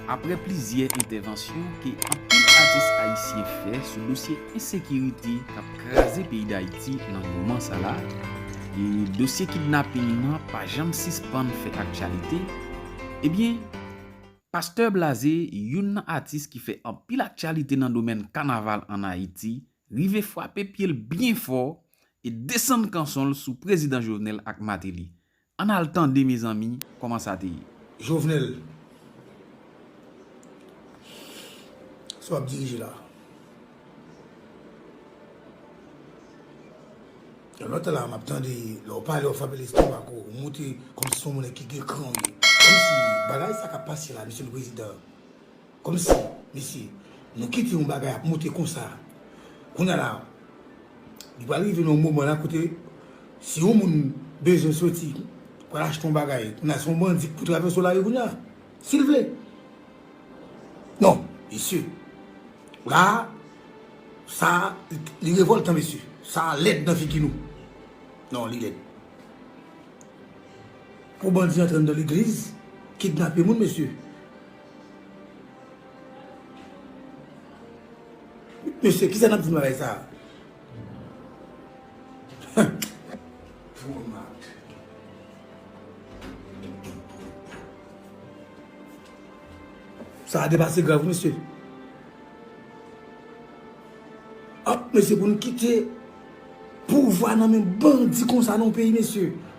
Aprè plizyè entèvansyon ke anpil atis ayisyen fè sou dosye ensekirite kap kraze peyi Dayiti nan moman sa la, e dosye kidnaping nan pa janm sispann fè aktyalite, ebyen Pastè Blaze youn nan atis ki fè anpil aktyalite nan domèn kanaval an Ayiti rive fwape pyel byen fò e desann kanson l sou Prezidan Jovenel ak Mateli Ann al tande mezanmi koman sa te ye. Jovenel Sa wap dirije la Yon lòt tan la map tande lè ou pale ou frape lestomak ou montre kòmsi son moun ki gen kran ou ye kòmsi bagay sa kap pase la misye le prezidan. Komsi mesye nou kite yon bagay ap moute konsa kounya la li pral rive nan yon moman la kote si yon moun bezwen soti pou al achte yon bagay kounya se yon bandi ki pou travèse w lari kounya si l vle non mesye la sa li revòltan mesye sa lèd nan figi nou non li lèd pou bandi antre nan legliz kidnape moun mesye. Mesye, kisa nap di nan bagay sa a? Sa a depase grav wi mesye. Ap mesye pou nou kite pouvwa nan men bandi konsa nan yon peyi mesye.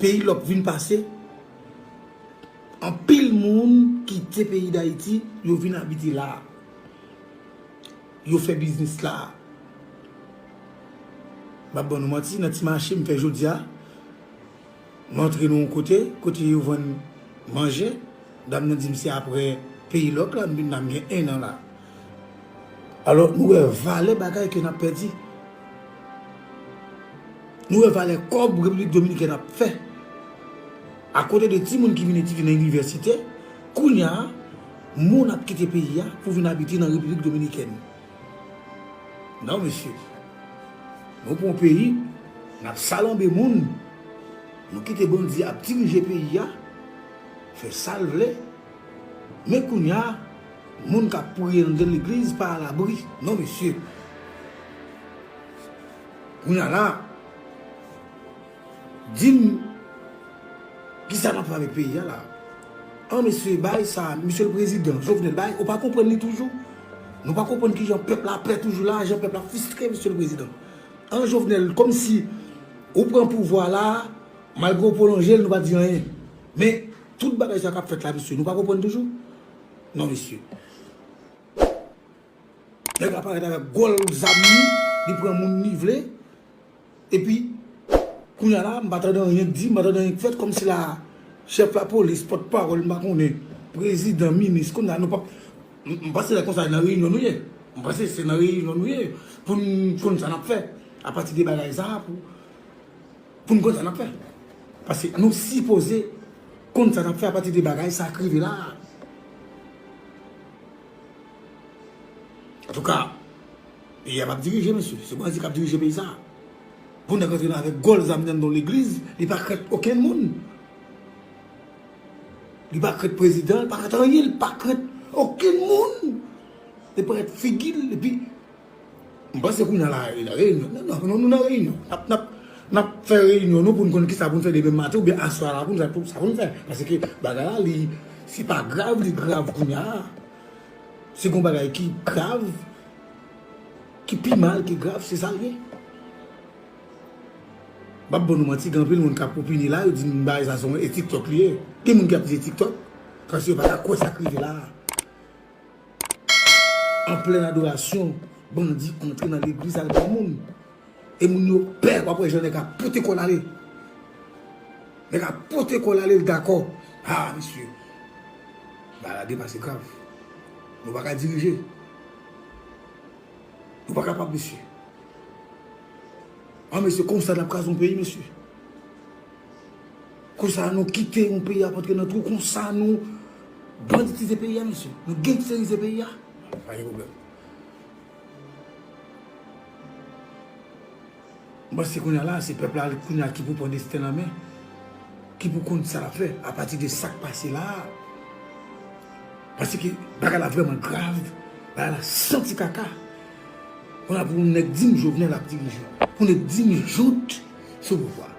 Peyi lòk vin pase, anpil moun kite peyi Dayiti, yo vin abite la. Yo fè biznis la. M pa ban nou manti, nan ti mache m fè jodi a, m antre nan yon kote, kote yo vann manje, dam nan di m se aprè peyi lòk la m vin la, m gen ennan la. Alò, nou wè valè bagay ke nap pèdi. Nou wè valè kòb Repiblik Dominikèn ap fè. A kote de timoun ki vin etidye nan inivèsite, kounya, moun ap kite peyi a pou vin abite nan Repiblik Dominikèn. Non, mesye. Nou pran yon peyi, nap salanbe moun, nou kite bandi ap dirije peyi a, fè sal vle. Men kounya moun kap priye anndan legliz pa alabri non mesye kounya la dim kisa nap fè avèk peyi a la an mesye bay sa misye prezidan jovenel bay ou pa konprann li toujou nou pa konprann kijan pèp la pè toujou la jan pèp la fistre misye prezidan an jovenel kòmsi ou pran pouvwa la malgre ou pwolonjel nou pa di anyen men. Tout bagay sa kap fèt la mesye nou pa konprann toujou non mesye nèg la parèt avèk gòl zam li li pran moun li vle epi kounya la m pa tande anyen k di m pa tande anyen k fèt kòmsi la chèf lapolis pòt pawòl m pa konnen prezidan minis kounya nou pap m panse lè konsa nan reyinyon nou ye m panse se nan reyinyon nou ye pou n konn sa n ap fè apati de bagay sa pou. Pou n konn sa n ap fè. Paske nou sipoze konn sa n ap fè apati de bagay sa k rive la a. Antouka, peyi a p ap dirije mesye. Se bandi k ap dirije peyi sa a. Pou nèg antre nan avèk gòl zam nan nan legliz, li pa krent okenn moun. Li pa krent prezidan, li pa krent anyen, li pa krent okenn moun. Li pa krent figi l. M panse kounya la a la reyinyon. Nan nan nou nan reyinyon. Nap nap nap fè reyinyon nou pou n konn kisa pou n fè demen maten oubyen aswè a la pou n sa pou sa pou n fè. Paske bagay la li se pa grav li grav kounya a. Se gon bagay ki grav ki pi mal ki grav se sa l ye. M pap ban nou manti gen anpil moun kap opine la yo di m bagay sa se yon e tiktok li ye. Gen moun ki ap di se tiktok. Paske yo pa ka kwè sa k rive la a. An plèn adorasyon, bandi antre nan legliz al pran moun. E moun yo pè, wap wè jan nèg ap pote kòl ale. Nèg ap pote kòl ale l dakò. Ha mesye, bagay la depase grav. Nou pa ka dirije. Nou pa kapab mesye. An mesye konsa nap kraze yon peyi mesye. Konsa nou kite yon peyi ap antre nan twou konsa nou banditize peyi a mesye, nou gengsterize peyi a, pa gen pwoblèm. M panse kounye a la se pèp la kounye a ki pou pran desten l an men, ki pou konn sa l ap fè apati de sa k pase la a. Pase ke bagay la vrèman grav, bagay la santi kaka. Konsa pou yon nèg di m Jovenel ap dirije, pou yon nèg di m Jout sou pouvwa.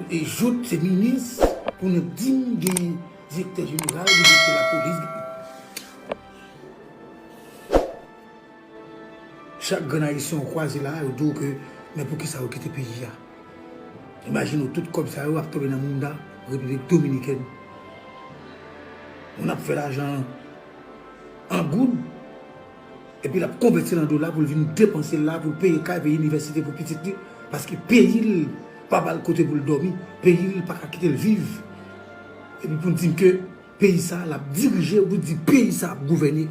E jout se minis pou nou dim gen direktè jeneral gen direktè lapolis gen Chak grenn ayisyen ou kwaze la yo diw ke men poukisa ou kite peyi a Imajine w tout kòb sa yo ap tonbe nan mounda repiblik dominikèn Moun ap fè lajan an goud Epi lap konvètil an dola poul vin depansel la poul peye kay peye inivèsite pou pitit li paske peyil pa bal kote poul dòmi peyil paka kitel viv epi poun dim ke peyi sa lap dirije epi poun dim peyi sa ap gouvène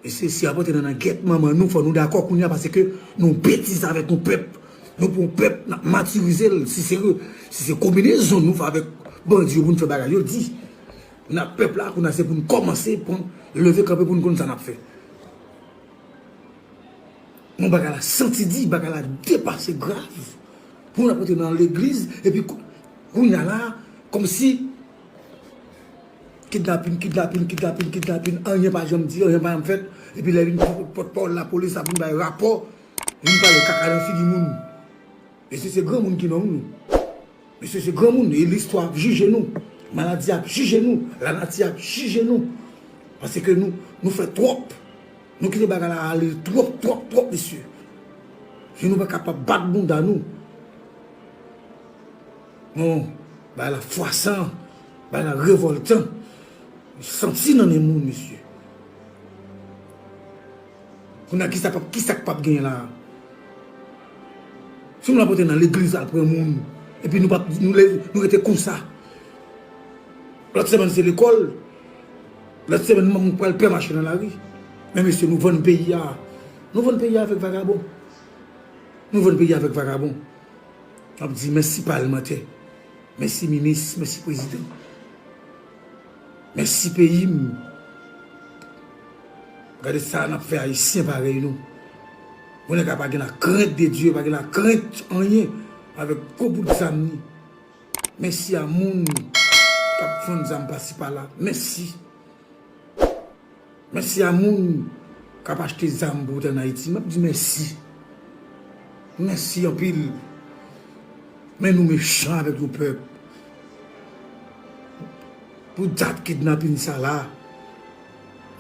mesye si yap antre nan nan gèt manman nou fò nou dakò kounya paske nou betize avèk yon pèp nou pran yon pèp nap matirizel si se kominezon nou fè avèk bandi yo poun fè bagay yo di. Nan pèp la kounye a se pou nou kòmanse pran leve kanpe pou nou konn sa nap fè. Bon bagay la santi di, bagay la depase grav pou nou ap antre nan legliz epi kounye a la kòmsi kidnapin, kidnapin, kidnapin, kidnapin anyen pa janm di, anyen pa janm fèt epi lè vin pou pòtpawòl lapolis ap vin bay rapò vin pale kaka nan figi moun. Mesye se granmoun ki nonm nou. Mesye se granmoun e listwa ap jije nou, maladi ap jije nou, lanati ap jije nou paske nou fè twòp, nou kite bagay la ale twòp twòp twòp mesye e nou pa kapab bat bounda nou non, bagay la fwasan, bagay la revòltan, santi nan nen moun mesye. Kounya kisa pap kisa k pap gen la. Si nou rapote nan legliz al pran moun epi nou pap nou leve nou rete konsa. Lòt semèn se lekòl, lòt semèn moun pral pè mache nan lari. Men mesye nou vann peyi a. Nou vann peyi a avèk vagabon. Nou vann peyi a avèk vagabon. Map di mèsi palmantè, mèsi minis, mèsi prezidan. Mèsi peyi m. Gade sa nap fè ayisyen parèy nou. Bon nèg la pa gen la krent de Dye, pa gen la krent anyen avèk gwo bout zam ni. Mèsi a moun kap vann zam pasi pala. Mèsi. Mèsi a moun kap achte zam pou vote an Ayiti. Map di mèsi. Mèsi anpil. Men nou mechan avèk yon pèp. Pou dat kidnapin sa la.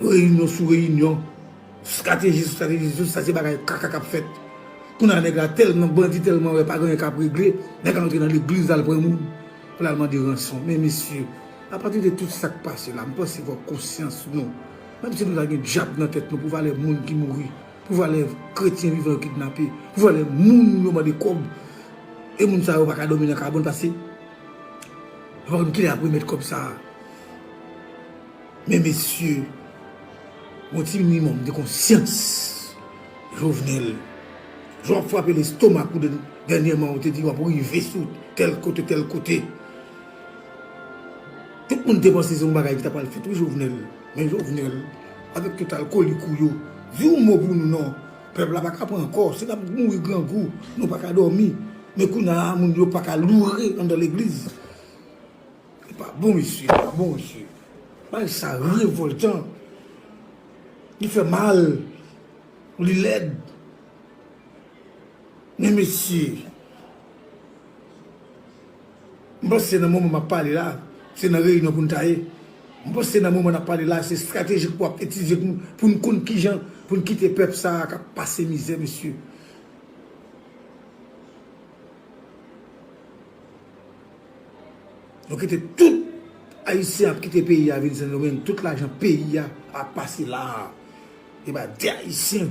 Reyinyon sou reyinyon. Strateji sou strateji. Tout sa se bagay kaka kap fèt. Kounye a nèg la tèlman bandi tèlman wè pa gen anyen kap regle. Nèg la antre nan legliz lal pran moun. Pou lal mande ranson men mesye apati de tout sak pase la m panse fok konsyans nou menm si nou ta gen dyab nan tèt nou pou valè moun ki mouri pou valè kretyen vivan yo kidnape pou valè moun yo mande kob e moun sa yo paka domi nan kabon pase kilè yap remèt kob sa a. Men mesye, yon ti minimòm de konsyans, Jovenel, jan w ap frape lestomak ou dènyèman ou te di w ap rive sou tèl kote tèl kote. Tout moun te panse se yon bagay ki ta pral fèt wi Jovenel, men Jovenel avèk tout alkolik ou yo, di yon mo pou nou non, pèp la pa ka pran ankò, se n ap mouri grangou, nou pa ka dòmi, men kounye a moun yo pa ka loure anndan legliz. Li pa bon mesye, li pa bon mesye. Bagay sa revoltan. Li fè mal. Li lèd. Men mesye. M panse nan moman map pale la, se nan reyinyon pou n ta ye. M panse nan moman nap pale la, se stratejik pou ap etize pou pou n konn kijan pou n kite pèp sa a kap pase mizè mesye. Nou kite tout ayisyen ap kite peyi a vin sendomeng tout lajan peyi a ap pase la epa de ayisyen.